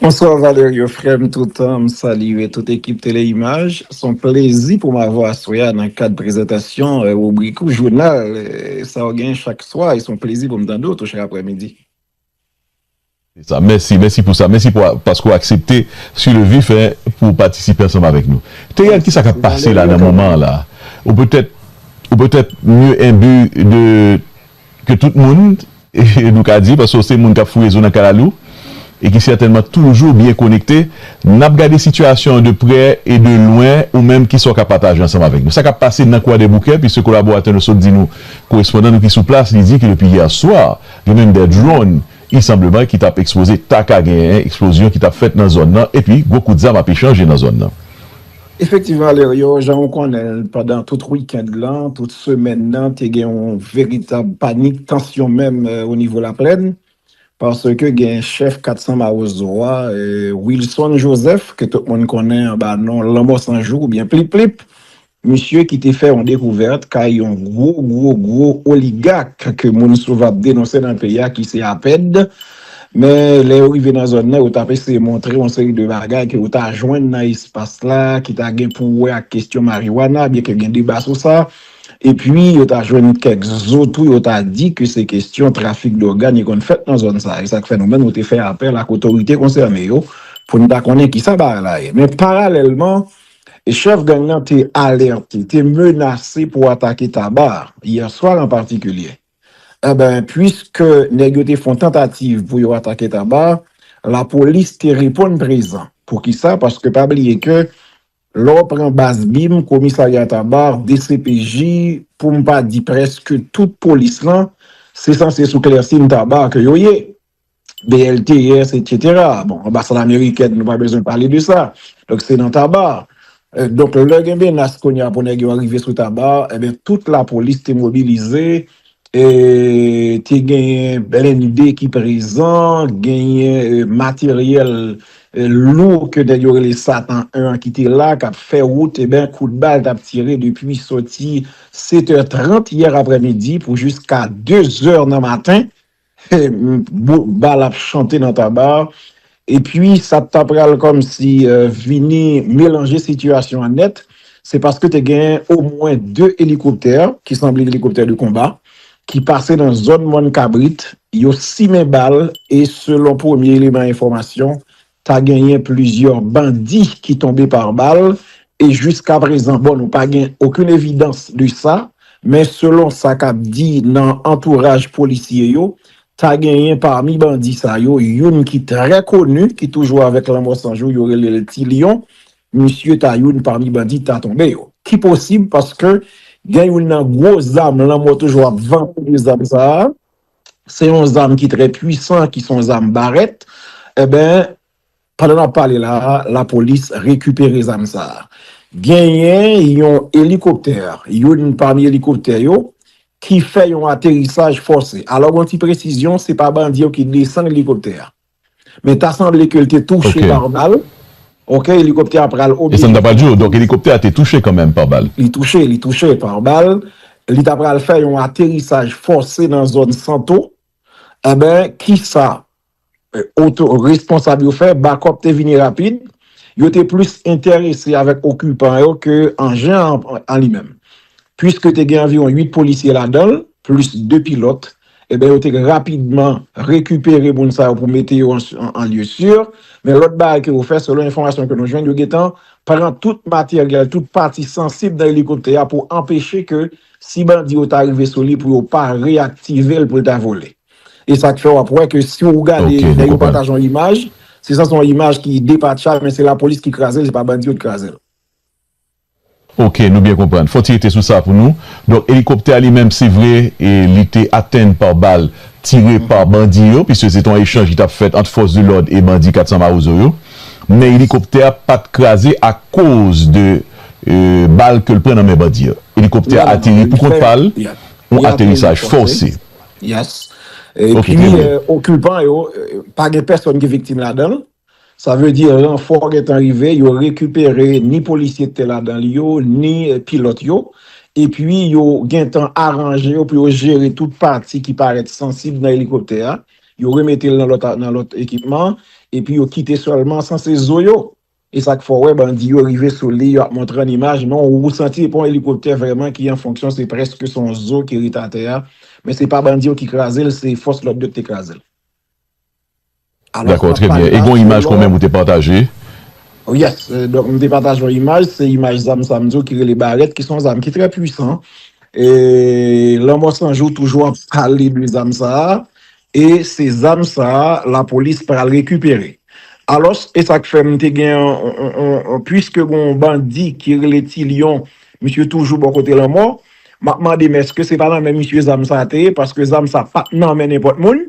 Bonsoir Valerio frèm toutan m salye tout ekip tele imaj s on plezi pou m avè w aswè a nan kad prezantasyon ribrik ou jounal sa w gen chak swa e s on plezi pou m tande w tou chak aprè midi. Se sa, mèsi, mèsi pou sa, mèsi pou paske ou aksepte su le vif e pou ou patisipe ansanm avèk nou. Theriel kisa kap pase la nan moman an la? Ou petèt ou petèt mye enbu de ke tout moun? nou ka di, paske w se moun k ap fouye zo nan kalalou e ki sètènman toujou byen konekte, n ap gade sitiyasyon an de prè e de lwen, ou menm ki sa w ka pataje ansanm avèk nou? Sa k ap pase nan Kwadèboukè, piske kolaboratè nou sot di nou, korespondan nou ki sou plas, li di ke depi yè swa, gen menm dè dronn, isanbleman, ki t ap ekspoze, ta ka gen eksplozyon ki t ap fèt nan zòn nan, epi gwo kout zam ap echanje nan zòn nan. Efektiv Valerio, jan ou konnen l pandan tout weekend lan, tout semèn nan te gen yon veritab panik, tansyon menm o nivo laplèn, paske gen chèf 400 mawozo a, Wilson Joseph, ke tout moun konnen anba non Lanmò San Jou oubyen Plip Plip, misye ki te fè yon dekouvèt kay yon gwo gwo gwo oligak ke moun souvan ap denonse nan peyi a ki se APED, Men, lè yo rive nan zòn nan, yo t ap eseye montre yon seri de bagay ke yo ta jwenn nan espas la ki ta gen pou wè ak kestyon mariwana, byenke gen deba sou sa. Epi, yo ta jwenn kèk zo tou yo ta di ke se kestyon trafik dògàn ki konn fèt nan zòn sa. E sa k fè nou menm nou te fè apèl ak otorite konsène yo pou n ta konnen kisa bagay la ye. Men, paralèlman, chèf gang nan te alète, te menase pou atake Taba, yèswa an patikilye. Enben, puiske nèg yo te fon tantativ pou yo atake Taba, lapolis te reponn prezan. Poukisa? Paske pa bliye ke lè w pran baz bim, komisarya Taba, dcpj, pou m pa di prèske tout polis lan, se sanse sou Clercine Taba ke yo ye. BLTS, etc. Bon, anbasad amerikèn, nou pa bezwen pale de sa. Donk, se nan taba. Donk, lè gen menas kounye a pou nèg yo rive sou taba, eben, tout lapolis te mobilize, e, te genyen blende ki prezan, genyen materyèl lou ke nèg yo rele Satan 1 an ki te la, k ap fè wout, eben, kout bal t ap tire depi soti 7 è 30 yè aprèmidi pou jiska 2 zè nan maten, Bal ap chante nan taba epi sa t ta pral kòmsi vini melanje sitiyasyon an nèt, se paske te gen omwen 2 elikoptè ki sanble elikoptè de konba ki pase nan zòn Mòn Kabrit, yo simen bal e selon premye eleman enfòmasyon Ta genyen plizyè bandi ki tonbe pa bal e jiskaprezan bon nou pa gen okenn evidans de sa, men selon sa k ap di nan antouraj polisye yo, ta genyen pami bandi sa yo youn ki trè koni ki toujou avèk Lanmò 100 jou yo rele l Ti Lyon, misye ta youn pami bandi k ta tonbe yo. Ki posib paske gen youn nan gwo zam Lanmò toujou ap vann pou zam sa a. se yon zam ki trè pwisan ki son zam barèt enben pandan nap pale la a lapolis rekipere zam sa a genyen yon elikoptè youn pami elikoptè yo ki fè yon aterisaj fòse alò gon ti presizyon se pa bandi yo ki desann elikoptè a Men ta sanble ke l te touche pa bal. Ok, elikoptè a pral oblije. E sa m ta pral di w, donk elikoptè a te touche kanmenm pa bal. Li touche, li touche pa bal. Li ta pral fè yon aterisaj fòse nan zòn Santo. Enben, kisa oto responsab yo fè? Bakòp te vini rapid. Yo te plis enterese avèk okipan yo ke anjen an an li menm. Piske te gen anviwon 8 polisye ladan l, plis 2 pilòt, Enben yo te rapidman rekipere moun sa yo pou mete yo an lye si. Men lòt bagay ke yo fè, selon enfòmasyon ke nou jwenn, yo gentan pran tout materyèl, tout pati sansib nan elikoptè a pou anpeche ke si bandi yo ta rive sou li pou yo pa reyaktive l pou l ta vole. E sa k fè w ap wè ke si w gade lè yo pataje yon imaj, se sa se yon imaj ki depatcha men se lapolis ki kraze l, se pa bandi yo ki kraze l. Ok nou byen konprann. Fò ti rete sou sa pou nou. Donk elikoptè a li menm se vre li te atenn pa bal tire pa bandi yo piske se te yon echanj ki tap fèt ant fòs de lòd e bandi 400 mawozo yo. Men elikoptè a pat kraze akoz de bal ke l pran nan men bandi yo. Elikoptè a ateri pou kont pa l, yon aterisaj fòse. Yes. Ok trè byen. Epi okipan yo pa gen pèsòn ki viktim ladan l. Sa vle di ranfò gentan rive, yo rekipere ni polisye ki te ladan li yo, ni pilòt yo, epi yo gentan aranje yo pou yo jere tout pati ki parèt sansib nan elikoptè a, yo remete l nan lòt ekipman, epi yo kite sèlman san se zo yo. E sa k fè w wè bandi yo rive sou li, yo ap montre an imaj, men ou santi se pa yon elikoptè vrèman ki an fonksyon, se prèske se yon zo ki rete atè a, men se pa bandi yo ki kraze l, se fòs lòd yo ki te kraze l. Dakò trè byen e gon imaj kon menm ou te pataje. Yes donk m te pataje yon imaj se imaj zam sa m di w ki rele barèt ki se yon zam ki trè pwisan e lanmò san jou toujou ap pale de zam sa e se zam sa lapolis pral rekipere alòs e sa k fè m te gen yon pwiske gon yon bandi ki rele ti lyon misye toujou bò kote lanmò m ap mande m èske se pa nan men misye zam sa te ye paske zam sa pa t nan men nenpòt moun.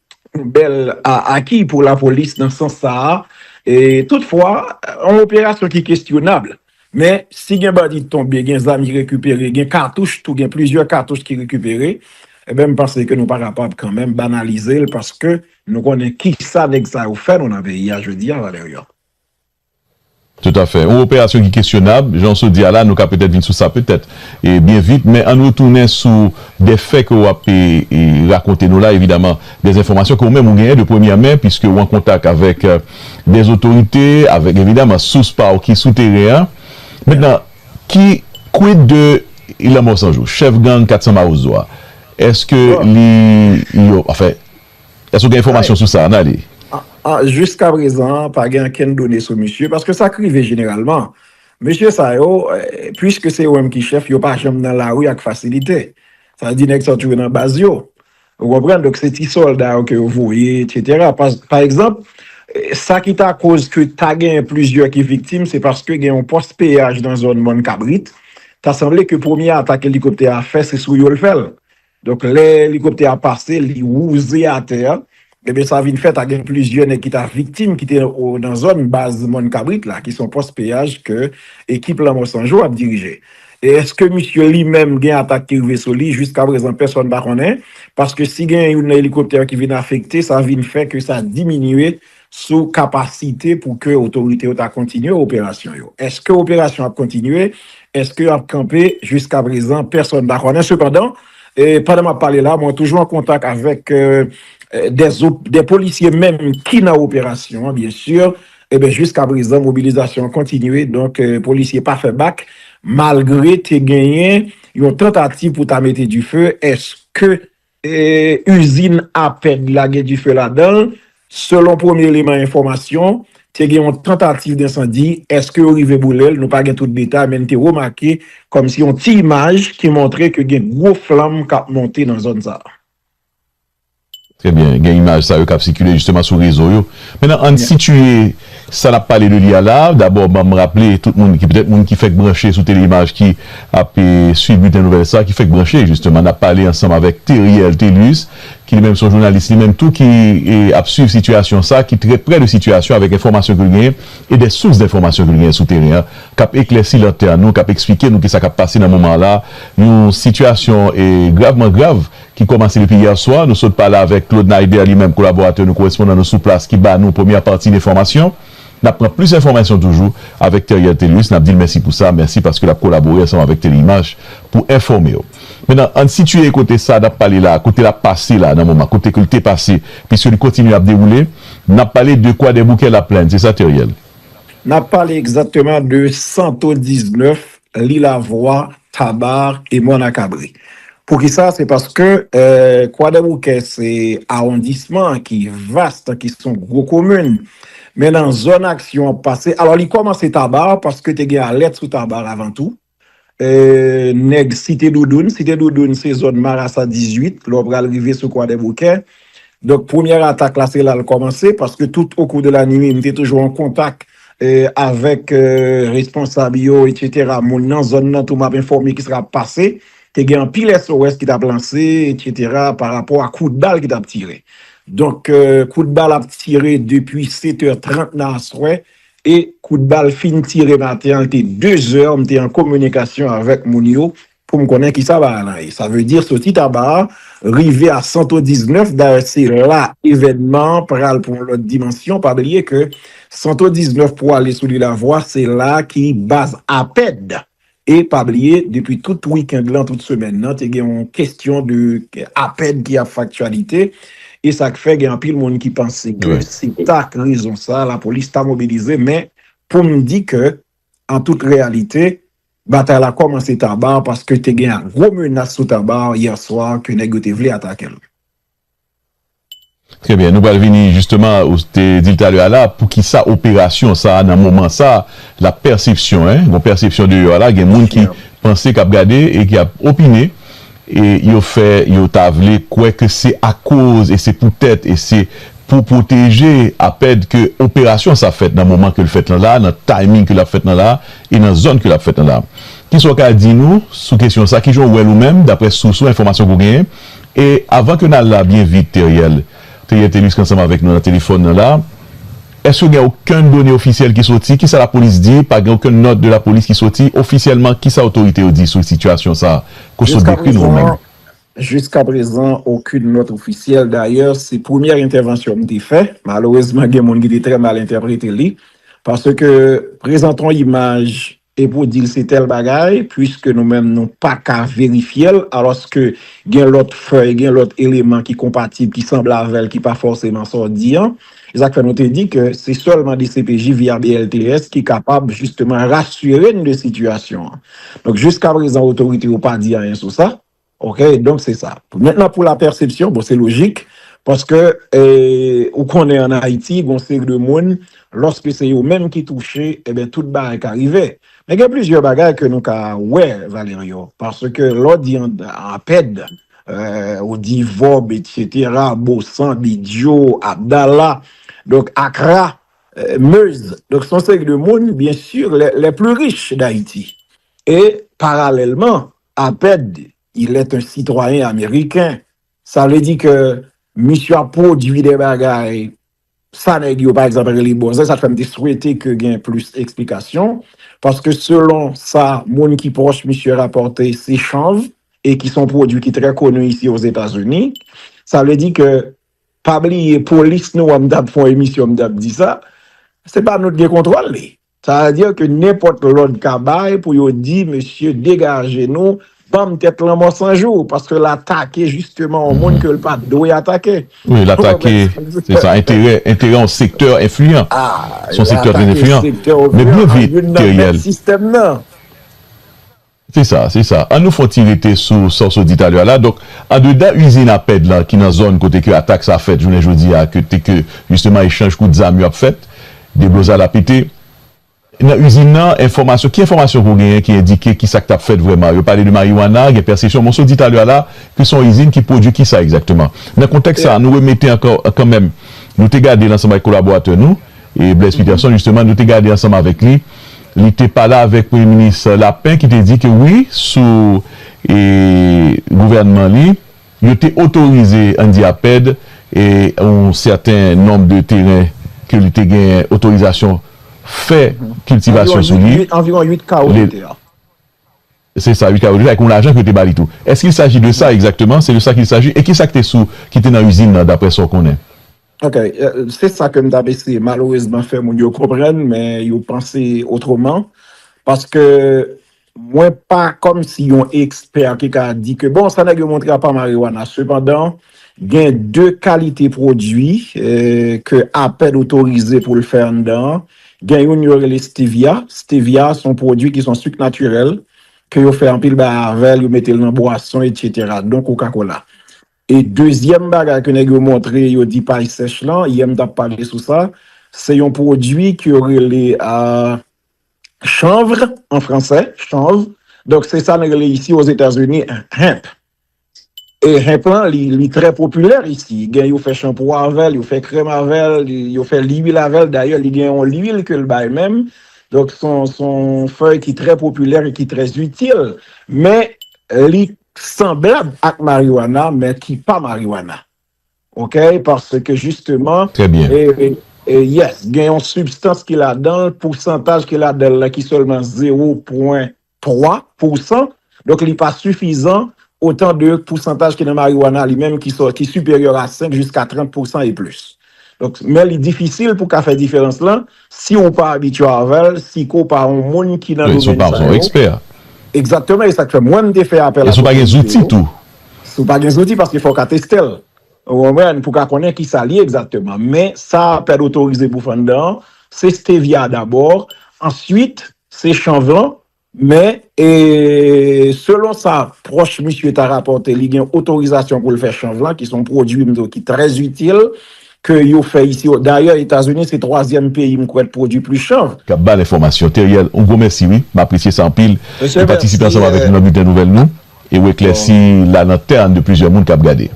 Yon bèl aki pou lapolis nan sans sa a. Toutfwa, yon operasyon ki kesyonab. Men, si gen bandi tonbe, gen zam ki rekipere, gen katouch tou, gen plizyè katouch ki rekipere, enben m panse ke nou pa kapab kanmenm banalize l paske nou konnen kisa nèg sa yo fè nou nan peyi a jodi a, Valerian. Toutafè. Yon operasyon ki kesyonab, jan w sot di a la, nou ka petèt vin sou sa petèt byen vit. Men ann retounen sou de fè ke w ap rakonte nou la, evidaman de enfòmasyon ke ou menm ou genyen de premyè men, piske ou an kontak avèk de otorite, avèk evidaman sous pa w ki sou teren an. Mentnan, ki quid de Ilan Mòsanjou, chèf gang 400 Mawozo a? Èske li yo, anfen. Èske ou gen enfòmasyon sou sa, Arnaly? Jiskaprezan, pa gen ankenn done sou misye, paske sa k rive jeneralman, mesye sa yo, puiske se yo menm ki chèf, yo pa janm nan lari ak fasilite. Sa vle di nèg sa yo toujou nan baz yo. Ou konprann? Donk se ti sòlda yo ke yo voye, etsetera. Pa egzanp, sa ki ta koz ke ta genyen plizyè ki viktim, se paske gen yon pòs peyaj nan zòn Mòn Kabrit, ta sanble ke premye atak elikoptè a fè, se sou yo l fè l. Donk lè elikoptè a pase li wouze atè a, ebyen sa vin fè ta gen plizyè nèg ki ta viktim ki te nan zòn baz Mòn Kabrit la ki se yon pòs peyaj ke ekip Lanmò San Jou ap dirije. E eske misye li menm gen atak ki rive sou li, jiska prezan pèsòn pa konnen, paske si gen youn nan elikoptè yo ki vin afekte sa vin fè ke sa diminye sou kapasite pou ke otorite yo ta kontinye operasyon yo. Eske operasyon ap kontinye? Eske yo ap kanpe? Jiska prezan, pèsòn pa konnen. Sepandan, pandan m ap pale la, mwen toujou an kontak avèk de polisye menm ki nan operasyon an, byen si, eben jiska prezan, mobilizasyon an kontinye, donk polisye pa fè bak, malgre te genyen yon tantativ pou ta mete dife, eske Izin APED la gen dife ladan l, selon premye eleman enfòmasyon, te gen yon tantativ densandi, èske yo rive boule l, nou pa gen tout detay men n te remake kòmsi yon ti imaj ki montre ke gen gwo flanm k ap monte nan zòn sa a. Trè byen, gen imaj sa yo k ap sikile jisteman sou rezo yo. Menan, an n sitiye. Sa nap pale de li a la, dabò banm raple tout moun ki petèt moun ki fèk branche sou Tele-Imaj ki ap swiv bilten nouvèl sa, ki fèk branche jisteman nap pale ansanm avèk Theriel Thelus ki li menm son jounalis li menm tou ki ap swiv sitiyasyon sa, ki trè prè de sitiyasyon avèk enfòmasyon ke l genyen e dè sous denfòmasyon ke l genyen sou teren an kap eklèsi lantèn nou, kap eksplike nou kisa kap pase nan moman la, yon sitiyasyon gravman grav ki kòmanse depi yè swa. Nou sot pale avèk Claude Naider li menm kolaboratè nou, korespondan nou sou plas ki ba nou premyè pati de enfòmasyon. N ap pran plis enfòmasyon toujou avèk Theriel Thelus. N ap di l mèsi pou sa, mèsi paske l ap kolabore ansanm avèk Tele-Image pou enfòme w. Menan, ann sitiye kote sa n ap pale la, kote l ap pase la nan moman, kote ke l te pase, piske li kontinye ap dewoule. N ap pale de Kwadèboukè-Laplèn, se sa Theriel? N ap pale egzakteman de Santo 19, Lilavwa, Tabar e Mwanakabri. Poukisa? Se paske Kwadèboukè se awondisman ki vast, ki son gwo komin. Men nan zòn aksyon ap pase, alò li kòmanse Tabar paske te gen alèt sou Tabar avan tou. Nèg Site Doudoun, Site Doudoun se zòn Marasa 18, lè w pral rive sou Kwadèboukè. Donk premyè atak la se la l kòmanse paske tout okou de la nwit m te toujou an kontak avèk responsab yo etsetera moun nan zòn nan tou m ap enfòme kisa k ap pase te gen anpil SOS ki t ap lanse etsetera pa rapò a kout bal ki t ap tire donk kout bal ap tire depi setè trant nan aswè e kout bal fin tire maten an l te dezè m te an kominikasyon avèk moun yo Pou m konnen ki sa baay lan ye. Sa vle di soti Taba a rive a Santo 19 dayè se la evènman an pral pran lòt dimansyon pa bliye ke Santo 19 pou ale sou Lilavwa se la ki baz APED e pa bliye depi tout wikend lan tout semèn nan te gen yon kestyon de APED ki ap fè aktyalite e sa k fè gen anpil moun ki panse ke se ta k rezon sa lapolis ta mobilize men pou m di ke an tout reyalite Batay la kòmanse Tabar paske te gen yon gwo menas sou Tabar yè swa ke nèg yo te vle atake l. Trè byen, nou pral vini jisteman, ou te di l talè a la, poukisa operasyon sa a nan moman sa a, l ap pèsepsyon, gen yon pèsepsyon deyò a la, gen moun ki panse, k ap gade e ki ap opine. E yo fè yo ta vle kwè ke se akoz e se poutèt e se pou pwoteje Apèd ke operasyon sa fèt nan moman ke l fèt lan la, nan timing ke l ap fèt lan la e nan zòn ke l ap fèt lan la. Kisa w ka di nou sou kesyon sa? Kijan w wè l ou menm, daprè sous ou, enfòmasyon ke w genyen? E avan ke n al la byen vit, Theriel, Teyè Telisk ansanm avèk nou nan telefòn nan la. Èske gen okenn done ofisyèl ki soti? Kisa lapolis di? Pa gen okenn nòt de lapolis ki soti? Ofisyèlman, kisa otorite yo di sou sitiyasyon sa a ke w sot dekri nou an menm? Jiskaprezan, okenn nòt ofisyèl. Dayè, se premyè entèvansyon m te fè. Malerezman, gen moun ki te trè mal entèprete li. Paske, prezante yon imaj E pou dil se tèl bagay, puiske nou menm nou pa ka verifyel, alòske gen lòt fèy, gen lòt eleman ki konpatib, ki sanble avèl, ki pa fòseman sa w di an. Se sa k fè nou te di ke se sèlman dcpj via BLTS ki kapab jisteman rasire n de sitiyasyon an. Donk jiskaprezan otorite yo pa di anyen sou sa. Ok donk se sa. Mentnan pou la pèsepsyon, bon se lojik paske ou konnen an Ayiti gon seri de moun lòske se yo menm ki touche enben tout bagay ka rive. Men gen plizyè bagay ke nou ka wè Valerio paske lè w di APED, ou di VOB etc, Bosan, Bidyo, Abdala, donk Akra, Meuse, donk son seri de moun byen sur les plus riches d'Ayiti e paralèlman Apèd il est un citoyen ameriken, sa vle di ke misye ap pwodui de bagay, sa nèg yo pa egzanp rele bòzè, sa k fè m te swete ke gen plis eksplikasyon, paske selon sa moun ki pwòch misye rapòte se chanv, e ki son pwodui ki trè koni isi ozetazini, sa vle di ke pa bliye polis nou an m t ap fon emisyon m t ap di sa, se pa nou t gen kontwòl li. Sa vle dire ke nenpòt lòd ka bay pou yo di mesye degaje nou, banm tèt lanmò san jou, paske l atake jisteman yon moun ke l pa t dwe atake. Wi, l atake, se sa, enterè, enterè yon sektè enfliyan. Se yon sektè trè enfliyan. Men byen vit, Theriel. Se sa, se sa. An nou fon ti rete sou sa w sot di talè a la. Donk, andedan izin APED lan ki nan zòn kote ke atak sa fèt jounen jodi a, kote ke jisteman echanj kout zam yo ap fèt, deblozay la pete. Nan izin nan, enfòmasyon, ki enfòmasyon ke w genyen ki endike ki sa k t ap fèt vrèman? Yo pale de mariwana, gen pèsepsyon. Men w sot di talè a la ke se yon izin ki pwodui ki sa egzakteman? Nan kontèks sa a, nou remete ankò, kanmenm, nou te gade l ansanm avèk kolaboratè nou. E Blaise Peterson jisteman nou te gade ansanm avèk li, li te pale avèk Premye Minis Lapin ki te di ke wi sou e gouvènman li, yo te otorize Andy Aped e yon sèten nonb de teren ke li te gen otorizasyon fè kiltivasyon sou li. Anviwon uit, anviwon uit kawo de tè. Se sa wi Carlo, li te bay kon lajan ke yo te bali tou. Est-ce qu'il s'agit de ça exactement? C'est de ça qu'il s'agit? E ki sa ki te sou, ki te nan usine nan d'après sa ou konnen? Ok, se sa ke m tap eseye malerezman fè moun yo konprann men yo panse otreman, paske mwen pa kòmsi yon ekspè ki ka di ke bon sa nèg yo montre a pa marijuana. Sepandan gen 2 kalite pwodui ke APED otorize pou l fè anndan an Gen youn yo rele Stevia, Stevia se yon pwodui ki se yon sucre naturel ke yo fè anpil bagay avèl, yo metel nan bwason etc. Don coca cola. E dezyèm bagay ke nèg yo montre yo di pay sèch lan, yè m tap pale sou sa, se yon pwodui ke yo rele Chanvre an fransè, chanvre, donk se sa nou rele isi Ozetazini Hemp. E henp lan li trè popilè isi, gen yo fè chanpou avè l, yo fè krèm avè l, yo fè lwil avè l, dayè li gen yon lwil ke l bay menm, donk son fèy ki trè popilè e ki trè itil, men li sanblab ak mariwana men ki pa mariwana ok, paske jisteman yes gen yon sibstans ki ladan l, pousantaj ki ladan l la ki sèlman 0 pwen 3 pou san, donk li pa sifizan otan de pousantaj ki nan mariwana li menm ki sò, ki siperyè a 5 jiska 30 pou san e plis. Donk, men li difisil pou ka fè diferans lan, si ou pa abitye avè l, si ke w pa yon moun ki nan domèn sa yo. Egzakteman, e sa k fè mwen m te fè apèl ak otorite yo. Si w pa gen zouti, paske fò w ka teste l. Ou konprann, pou w ka konnen ki sa l ye egzakteman. Men, sa pèd otorize pou fè anndan an, se stevia dabò, answit, Se chanv lan, men e selon sa pwòch misye ta rapòte li gen otorizasyon pou l fè chanv lan ki se yon pwodui m di w ki trè itil ke yo fè isi o dayè Etazini se twazyèm peyi m kwè k pwodui plis chanv. K ap ba l enfòmasyon. Theriel, yon gwo mèsi wi. M apresye sa anpil. Mesye, mèsi. Ou patisipe ansanm avèk nou nan Bilten Nouvèl nou. E ou eklèsi la nan tè an de plizyè moun kap gade.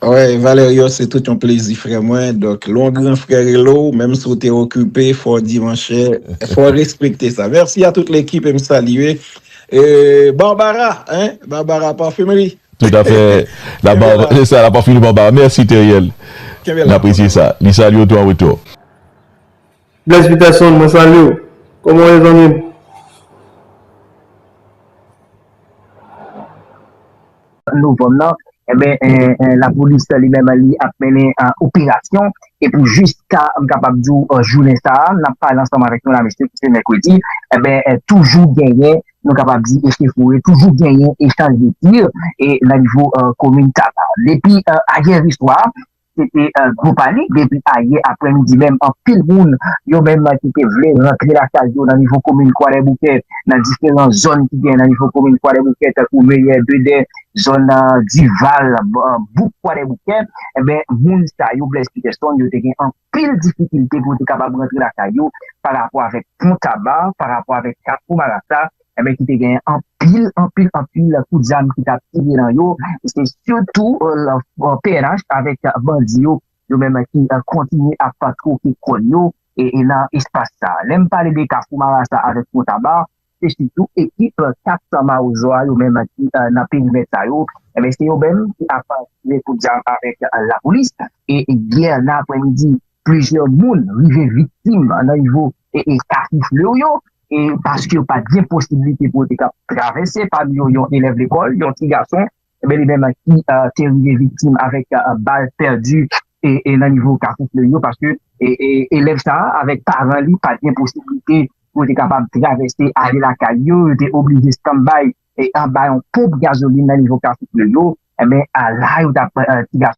Wè Valerio se tout yon plezi frè mwen donk lè yon gran frè rele w menm si w te okipe fò w di monchè fò w respekte sa merci a tout lekip e m salye Barbara hein Barbara parfumerie Tout a fè la bar se sa la parfumerie Barbara merci Theriel n apresye sa li salye w tou an retou. Blaise Peterson mwen salye w Koman w ye zanmi m? Novanm nan, enben lapolis li menm li ap mennen operasyon e pou jiska m kapab di w jounen sa a n ap pale ansanm avèk nou la mesye ki se mèkredi enben toujou genyen nou kapab di echefoure toujou genyen echanj de tir e nan nivo komin Taba depi ayèriswa. Se te gwo panik depi ayè aprèmidi menm anpil moun yo menm ki te vle rantre lakay yo nan nivo komin Kwadèboukè nan diferan zòn ki gen nan nivo komin Kwadèboukè tankou Meyè, Bedè, zòn Dival, bouk Kwadèboukè enben moun sa yo Blaise Peterson yo te gen anpil difikilte pou yo te kapab rantre lakay yo pa rapò avèk pon Taba, pa rapò avèk kafou Marasa Ebyen ki te gen anpil anpil anpil kout zam ki tap tire nan yo, e se sitou pnh avèk bandi yo yo menm ki kontinye ap twoke kòn yo e nan espas sa. Lè m pale de kafou marasa avèk pon taba se sitou ekip 400 mawozo a yo menm ki nan perimèt sa yo ebyen se yo menm ki ap tire kout zam avèk lapolis e yè nan aprè midi plizyè moun rive viktim nan nivo ka soufle w yo, e paske yo pa t gen posiblite pou yo te kab travèse, pami yo yon elèv lekòl, yon ti gason, bel e menm ki te rive viktim avèk bal pèdi nan nivo ka soufle yo, paske elèv sa a avèk paran li pa t gen posiblite pou yo te kapab travèse ale lakay yo, yo te oblije standby anba yon ponp gazolin nan nivo ka soufle yo, enben la yo t ap ti gason.